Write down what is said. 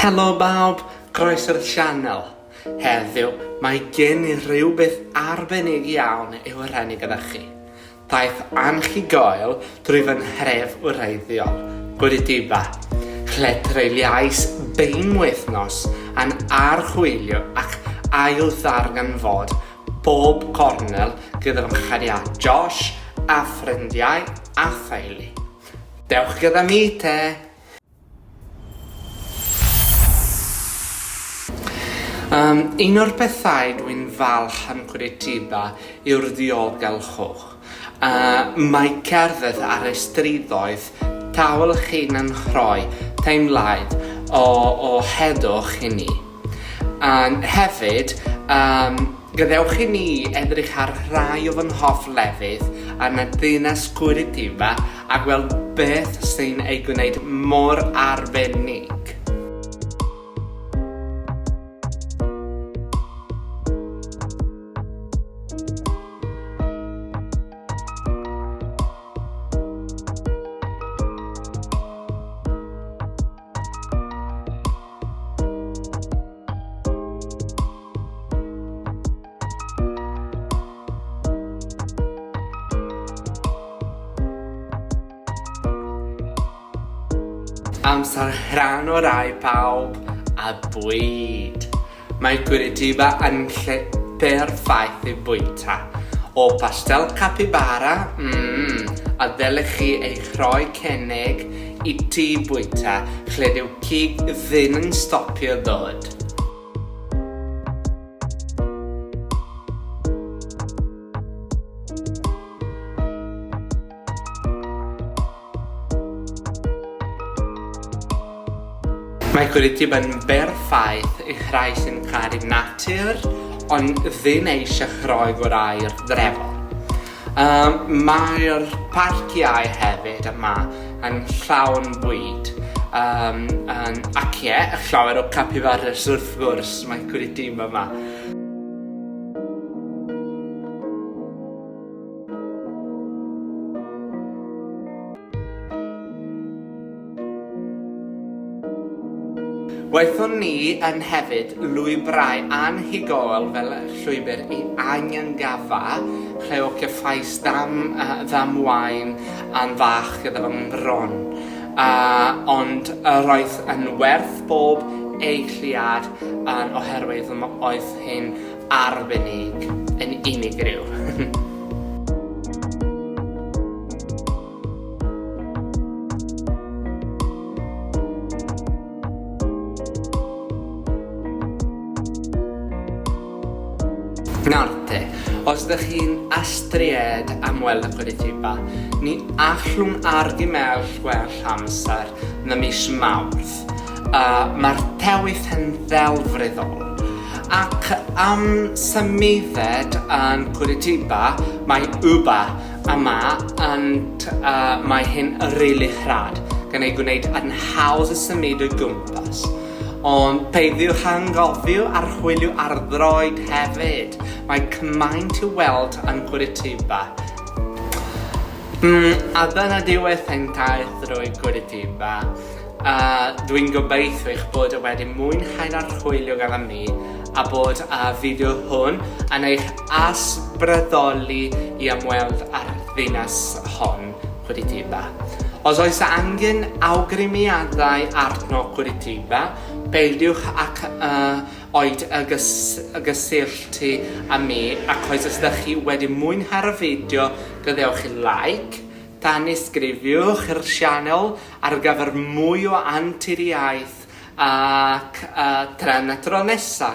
Helo bawb, groeso i'r sianel. Heddiw, mae gen i rywbeth arbennig iawn i'w rhannu gyda chi. Daeth anhygoel drwy fy nhref wreiddiol, Gwritiba, lle treuliais bein wythnos yn archwilio ac ailddarganfod bob cornel gyda fy nghariad Josh a ffrindiau a theulu. Dewch gyda mi te! Um, un o'r pethau dwi'n falch am Curitiba yw'r ddiogelwch. Uh, mae cerdded ar y strydoedd tawl chi'n anrhoi teimlaid o, o heddwch i ni. Ond hefyd, yym, gadewch i ni edrych ar rhai o fy nghoff lefydd yn y Deyrnas Gwrywaidd 'ma a gweld beth sy'n ei gwneud mor arbennig. Amser rhan o'r rai pawb a bwyd! Mae Curitiba yn lle perffaith i fwyta. O pastel capybara, mm, a ddylech chi eich rhoi cynnig i ti fwyta lle dyw cig ddim yn stopio ddod. Mae Cwritib yn berffaith i rhai sy'n caru natur ond ddim eisiau chroi gorau'r drefol. Um, Mae'r parciau hefyd yma yn llawn bwyd um, um, ac ie, yeah, llawer o capibaras wrth gwrs mae Cwritib yma. Gwaethon ni yn hefyd lwybrau anhygoel fel llwybr i Anhungafa, lle o cefais dam, uh, ddam wain am fach gyda fy ngwron. Uh, ond yr oedd yn werth bob eiliad yn oherwydd oedd hyn arbennig yn unigryw. Nawr te, os ydych chi'n astried am weld y Curitiba, ni allwn argymell gwell amser na mis Mawrth. A mae'r tewydd yn ddelfryddol. Ac am symuded yn Curitiba, mae Uber yma and uh, mae hyn yn rili rhad, gan ei gwneud yn hawdd y symud o gwmpas. Ond peidiwch angofio archwilio arddroed hefyd. Mae cymaint i weld yn Curitiba. Mm, a dyna diwedd ein taith drwy Curitiba. A dwi'n gobeithio eich bod e wedi mwynhau'r archwilio gyda mi a bod y fideo hwn yn eich ysbrydoli i ymweld â'r ddinas hon, Curitiba. Os oes angen awgrymiadau arno Curitiba, peidiwch ac uh, oed y gys gysylltu â mi ac oes os ydych chi wedi mwynhau'r fideo gadewch i like, tanysgrifiwch i'r sianel Ar gyfer mwy o anturiaeth ac yy tra na tro nesa!